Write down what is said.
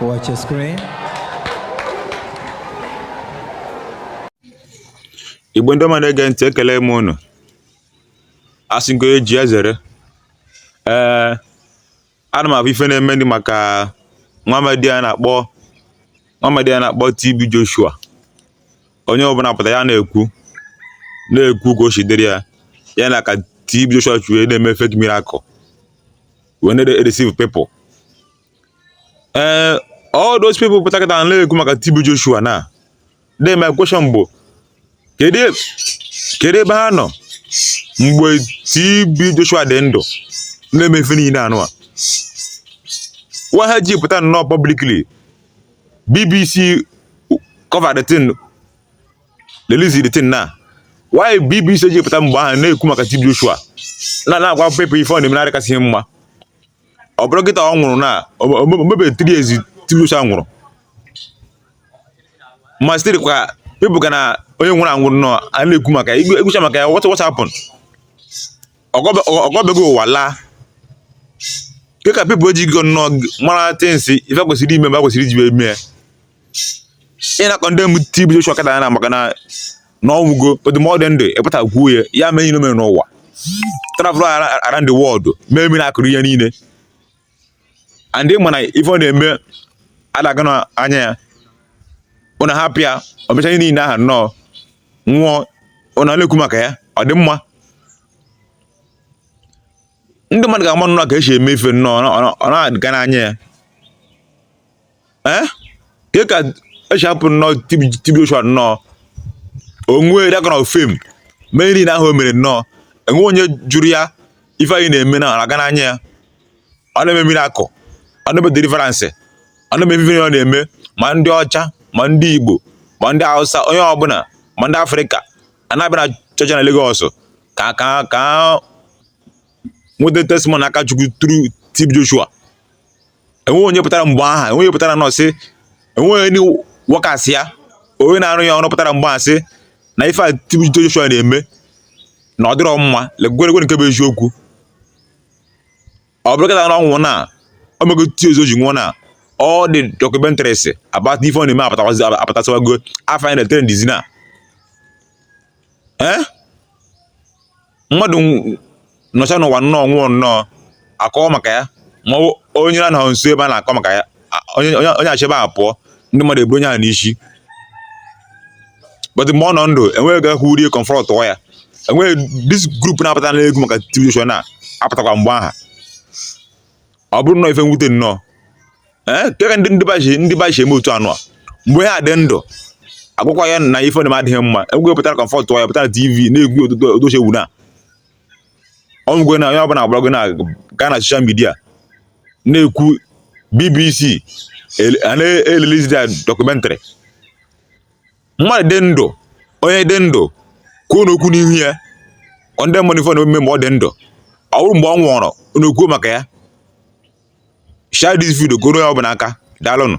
Watch your screen. Igbo ndị ọma na-ege ntị ekele m unu a sị nke eji ezere ee ana m afụ ife na-eme ndị maka nwamadi a na-akpọ nwamadi a na-akpọ TB Joshua onye ọbụla pụta ya na-ekwu na-ekwu ka o si dịrị ya ya na ka TB Joshua si wee na-eme fake miracle wee na-deceive people ee eh, all those people pụta kịta na-ekwu maka TB Joshua na de my question bụ kedu e, ebe ha nọ mgbe TB Joshua dị ndụ na-eme ife niile anụwa why ha ji pụta nnọọ publicly BBC cover the thing release the thing na why BBC ji pụta mgbe ahụ na-ekwu maka TB Joshua na na-agwa people ife ọ na-eme na adịkasịghị mma ọ bụrụ kịta ọ nwụrụ na o mebe three years TB Joshua nwụrụ ma still kwa people ka na onye nwụrụ anwụrụ nọ a na-ekwu maka ekwucha maka ya what what happened ọgọbego ụwa laa ke ka people eji go nnọọ mara things ife kwesịrị ime mgbe kwesịrị iji wee mee ị na-condemn TB Joshua kịta a na maka na na ọ nwụgo but mgbe ọ dị ndụ ị pụta kwuo ya ya mee ihe n'ụwa travel around the world mee miracle ihe niile and ị ma na ife ọ na-eme adaga na anya ya ụna hapụ ya o mecha ihe niile aha nnọọ nwụọ ụna na-ekwu maka ya ọ dị mma ndị mmadụ ga-ama nnọọ ka esi eme ife nnọọ ọ na-adịga n'anya ya ee eh? ke ka e si hapụ nnọọ TB Joshua nnọọ o nwee that kind of fame mee niile ahụ o mere nnọọ enwe onye jụrụ ya ife a ị na-eme na aga n'anya ya ọ na-eme miracle ọ na-eme deliverance ọ na-eme ife ọ na-eme ma ndị ọcha ma ndị Igbo ma ndị Hausa onye ọbụla ma ndị Afrịka a na-abịa na chọọchị na Lagos ka ka ka nweta testimony aka Chukwu through TB Joshua enweghị onye pụtara mgbe aha enweghị onye pụtara nnọọ sị enweghị ndị workers ya onye na-arụ ya ọrụ pụtara mgbe aha sị na ife a TB Joshua na-eme na ọ dịrọ mma legweregwe nke bụ eziokwu ọ bụrụ kịta na ọ nwụ na o mego three years o ji nwụọ na all the documentaries about ife ọ na-eme apụtasawago afọ anyị na-etere ndizi na eh mmadụ nọcha n'ụwa nnọọ nwụọ nnọọ akọọ maka ya ma ọ bụ onye na anọghị nso ebe a na-akọ maka ya a- onye onye- onye shi ebe ahụ pụọ ndị mmadụ eburu onye ahụ n'isi but mgbe ọ nọ ndụ enweghị ga kwurie confrontụọ ya enweghị this group na-apụta na-ekwu maka TB Joshua apụtakwa mgbe aha ọ bụrụ nnọọ ife mwute nnọọ ee nke ka ndị ndị baji ndị baji eme otu anụ a mgbe ha dị ndụ agwakwa ya na ife na-eme adịghị mma enweghị pụtara confront ya pụtara tv na-ekwu otuto otoche ewu na ọ nwụgwe na onye ọbụla agbarago na gaa na social media na-ekwu bbc ele- a na-release the documentary mmadụ dị ndụ onye dị ndụ kwuonụ okwu n'ihu ya ọ ndị mmadụ ife ọ na-eme mgbe ọ dị ndụ ọ bụrọ mgbe ọ nwụrụ unu kwuo maka ya share this video ka o ruo onye ọbụna aka daalụnụ